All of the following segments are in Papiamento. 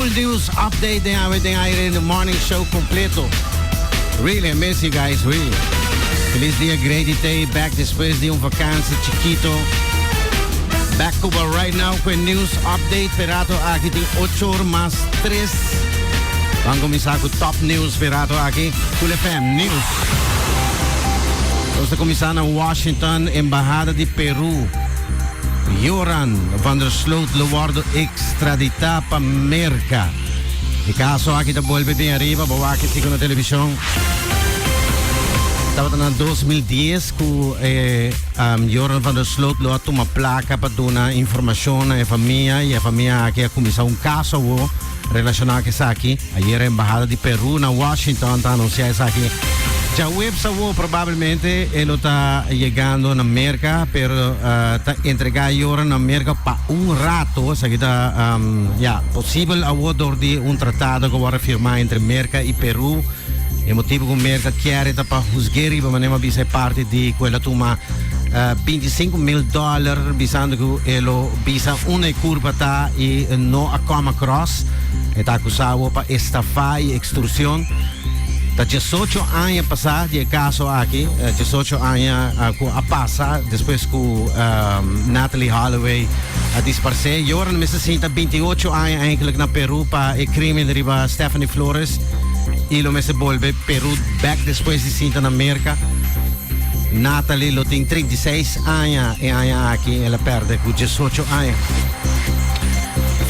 Full news update den awe den aire in the morning show completo. Really, I miss you guys, really. Feliz dia Grady Day, back despues di un vakantie chikito. Back Cuba right now cu e news update perato aki tin 8 or mas 3. Van comisa cu top news perato aki, Cool FM News. Nos ta comisa na Washington, Embahada di Peru. Joran van der Sloot lo wordo e Extraditá pa Merka. E kaso aki ta bolbe bin ariba, bo wak esei ku na televishon. Tabata na dos mil dies ku e Jordan van der Sloot lo a tuma plaka pa duna informashon na e famia i e famia aki a kuminsá un kaso awor relashoná ku esaki. Ayer e embahada di Peru na Washington ta anuncia esaki. Djaweps awo probablemente e lo ta yegando na Merca, pero ta entrega ayora na Merca pa un rato, esaki ta ya posibel awo dor di un tratado cu a worde firma entre Merca y Peru. E motibo cu Merca kier e ta pa husge riba mane mas bisa e parti di cu e lo tuma binti sinku mil dollar bisando cu e lo. Pisa una e curpa ta y no a come across. E ta acusa awo pa estafa y extorsion. Ta diesocho aña pasa di e caso aki, diesocho aña cu a pasa despues cu Natalee Holloway a disparce. Y ora no mester sinta binti y ocho aña eigenlijk na Peru pa e crimen riba Stephanie Flores y lo mester bolbe Peru back despues di sinta na Merca. Natalie lo tin trinta i seis aña e aña aki i el a pèrdè ku diesocho aña.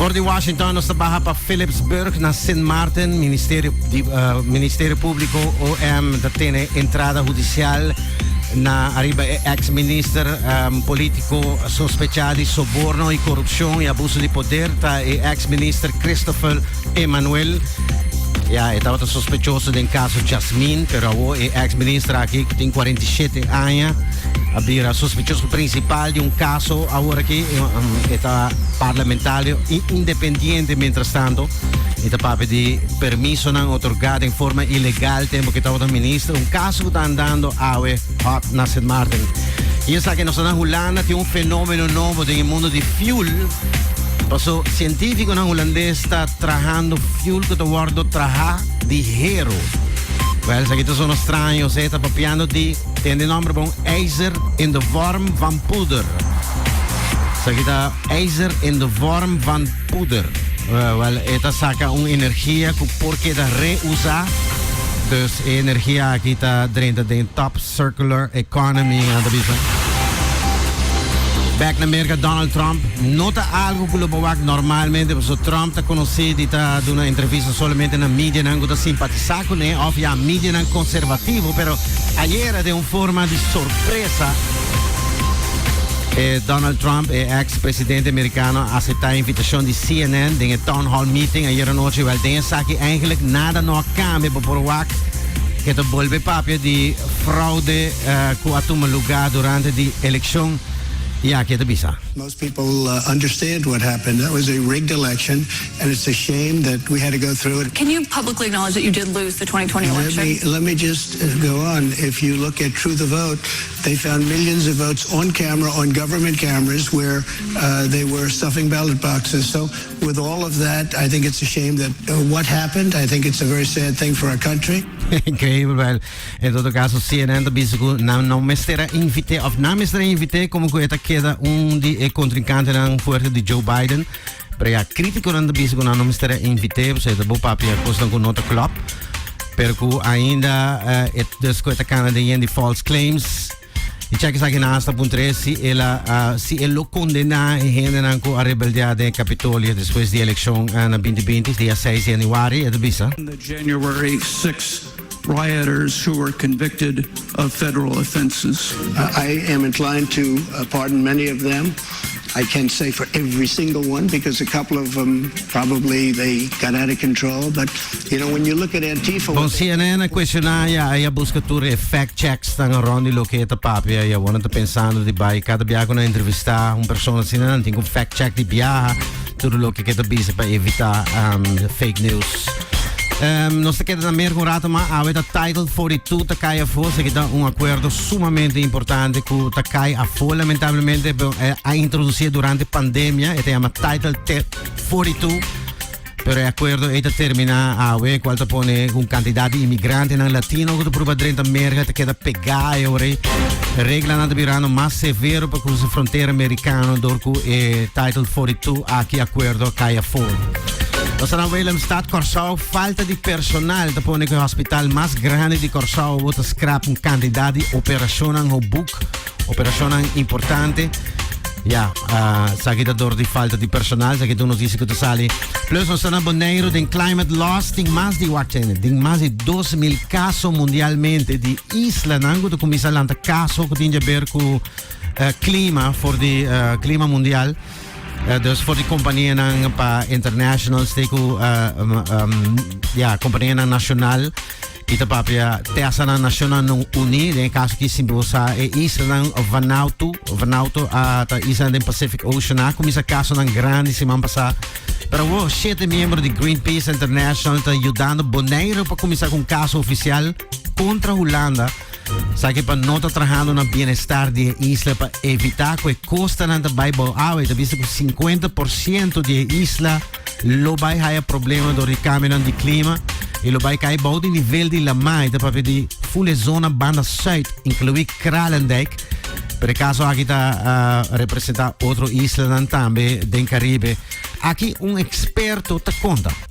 For di Washington nos ta baha pa Philipsburg na Sint Maarten. Ministerio di Ministerio Públiko, OM, ta tene entrada hudisial na ariba e eks minister polítiko sospechá di soborno i korupshon i abuso di poder. Ta e eks minister Christopher Emmanuel, ya, e tabata sospechoso den caso Jasmine, pero awo e ex minister aki, que tin 47 aña, a bira sospechoso principal di un caso awor aki, um, e ta parlamentario y independiente mientras tanto, y ta papi di permisonan otorgá den forma ilegal tempo que tabata minister, un caso que ta andando awe. Hot na Sint Maarten. Y esaki e nos ta na Hulanda tin un fenomeno nobo den e mundo di fuel. Paso cientificonan Hulandes ta trahando fuel cu ta wordo traha di hero. Wel, esaki ta sono straño, esaki ta papiando di ten den nomber bon ijzer in de vorm van poeder. Esaki ta ijzer in de vorm van Poeder. Wel, e ta saca un energia cu por keda re-uza. Dus e energia aki ta drenta den Top Circular Economy, nan ta bisa. Bek na Merca, Donald Trump no ta algo cu lo bo wak normalmente, pasobra Trump ta conoce di ta duna entrevista solamente na medianan cu ta simpatisa cu ne of ya medianan conservativo. Pero ayera den un forma di sorpresa. E Donald Trump, e ex presidente americano, a acepta e invitacion di CNN den e town hall meeting ayer anochi. Wel, den esaki eigenlijk nada no a cambia bo por wak ke ta bolbe papia di fraude eh, ku a tuma lugar durante di eleccion. Ya, ke ta bisa. Most people uh, understand what happened. That was a rigged election, and it's a shame that we had to go through it. Can you publicly acknowledge that you did lose the 2020 election? Let me, let me just go on. If you look at True the Vote, They found millions of votes on camera on government cameras where they were stuffing ballot boxes so with all of that I think it's a shame that what happened I think it's a very sad thing for our country. Increíble wel. En todo caso, CNN ta bizi cu nan no mester a invité of nan mester a invité como cu e ta keda un di e contrincantenan fuerte di Joe Biden. Pero ya, críticonan ta bisa cu nan no mester a invité pasobra e ta bo papia cosnan cu no ta clop. Pero cu ainda eh, e dus cu e ta cana den yen di false claims. Y check esaki na hasta punto tres si el a, a- si el lo condena e hendenan cu a rebeldea den e Capitolio despues di eleccion eh, na 2020, dia 6 di januari, e ta bisa. On the January 6 rioters who were convicted of federal offenses. I am inclined to pardon many of them, I can't say for every single one because a couple of them probably they got out of control but you know when you look at Antifa. Bon, cnn a cuestiona a Yaya, a busca tur e fact checksnan around di loke e ta papia y awor nan ta pensando di bay cada bia cu nan entrevista un persona asina nan tin cu fact check di biaha. Tur loke ke ta busy pa evita fake news. Nos ta keda na Merk un rato ma awe ta Title 42 ta kai afo, se kita un acuerdo sumamente importante ku ta kai afo lamentablemente a introduci durante pandemia e ta yama Title 42. Pero e acuerdo e ta termina awe, cual ta pone un cantidad de inmigrante nan latino que ta prueba drenta merga te queda pegada e ore. Regla nan ta birando mas severo pa cruce frontera americano door ku e Title 42 Aki Acuerdo Caya Foor. Nos ta na Willemstad, Kòrsou. Falta di personal ta pone ku e hospital mas grandi di Kòrsou bo ta skrap un kantidat di operashonnan hou buk, operashonnan importante. Ya, ah, esaki ta dor di falta di personal, esaki ta un notisia ku ta sali. Plus nos ta na Boneiru den climate loss tin mas di wak tjene, tin mas di dos mil kaso mundialmente di islanan ku ta kuminsá lanta kaso ku tin djaber ku eh, clima for di eh, clima mundial eh, dus for di compagnia nan pa international stay ku eh, um, um, ja compagnia nan nacional y te papia tesa nan nacional non uni den caso ki simple sa e isla nan Vanuatu Vanuatu a ta isla den Pacific Ocean a kumisa caso nan grande semana pasa pero wo siete miembro di Greenpeace International ta ayudando Bonaire pa kumisa kun caso oficial contra Holanda Esaki pa no ta trahando na bienestar di e isla pa evitá ku e kostanan ta bai bou. Awe e ta bisa ku sinkuenta por siento di e isla lo bai haya problema dor di kambionan di klima i lo bai kai bou di nivel di lamai. Ta papia di ful e zona banda sùit, inkluí Kralendijk. Pero e kaso aki ta representá otro islanan tambe den Karibe. Aki un eksperto ta konta.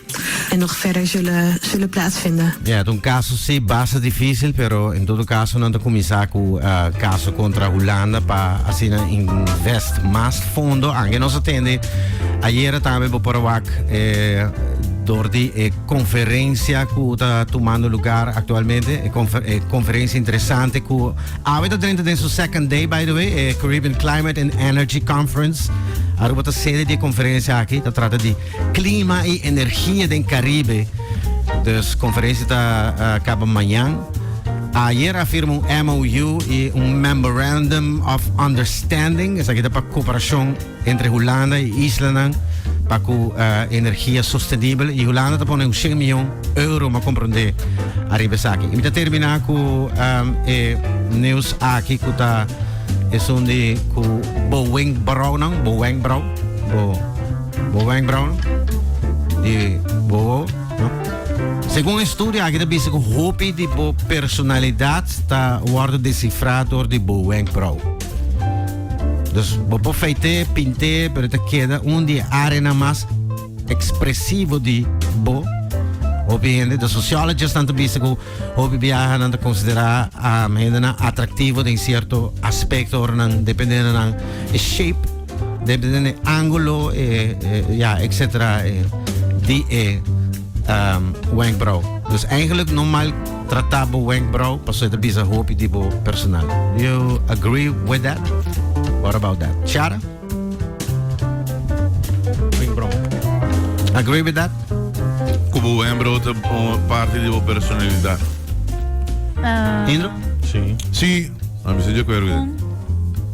En nog verder zullen plaatsvinden. Ja, ta un kaso si basta difísil, pero en todo kaso nan ta kuminsá ku kaso kontra Hulanda pa asina invest mas fondo. Anke nos a tende ayera tambe bo por a wak dor di e konferensia ku ta tumando lugar aktualmente, e konferensia interesante ku awe ta drenta den su second day by the way, e Caribbean Climate and Energy Conference. Aruba ta sede di e konferensia aki, ta trata di. Klima i energia den Karibe, dus konferensia ta kaba mañan. Ayer a firma un MOU i un Memorandum of Understanding, esaki ta pa koperashon entre Hulanda i islanan pa ku energia sostenibel i Hulanda ta pone un shen mion euro, m'en komprondé, ariba esaki. I mi ta terminá ku e news aki ku ta esun di ku bo wenkbraunan, bo wenkbrau, bo. Bo wenkbrauwen di bobo, no? Segun e studio aki ta bisa ku hopi di bo personalidat ta wòrdu desifrá dor di bo wenkbrauw. Dus bo por feit'é, pint'é, pero ta keda un di e áreanan mas ekspresivo di bo. Hopi hende, de sociologesnan ta bisa ku hopi biahanan ta konsiderá hendenan atraktivo den sierto aspekto ora nan dependendo nan e shape. de de de angulo e ja etcetera e di e um, wenkbrauw. Dus eigenlijk normal trata bo wenkbrauw paso e ta bisa hopi di bo personal. Do you agree with that? What about that? Shara? Wenkbrauw. Agree with that? Kubo wenkbrauw ta parte di bo personalidad. Uh, Indro? Si. Si. I'm sure you're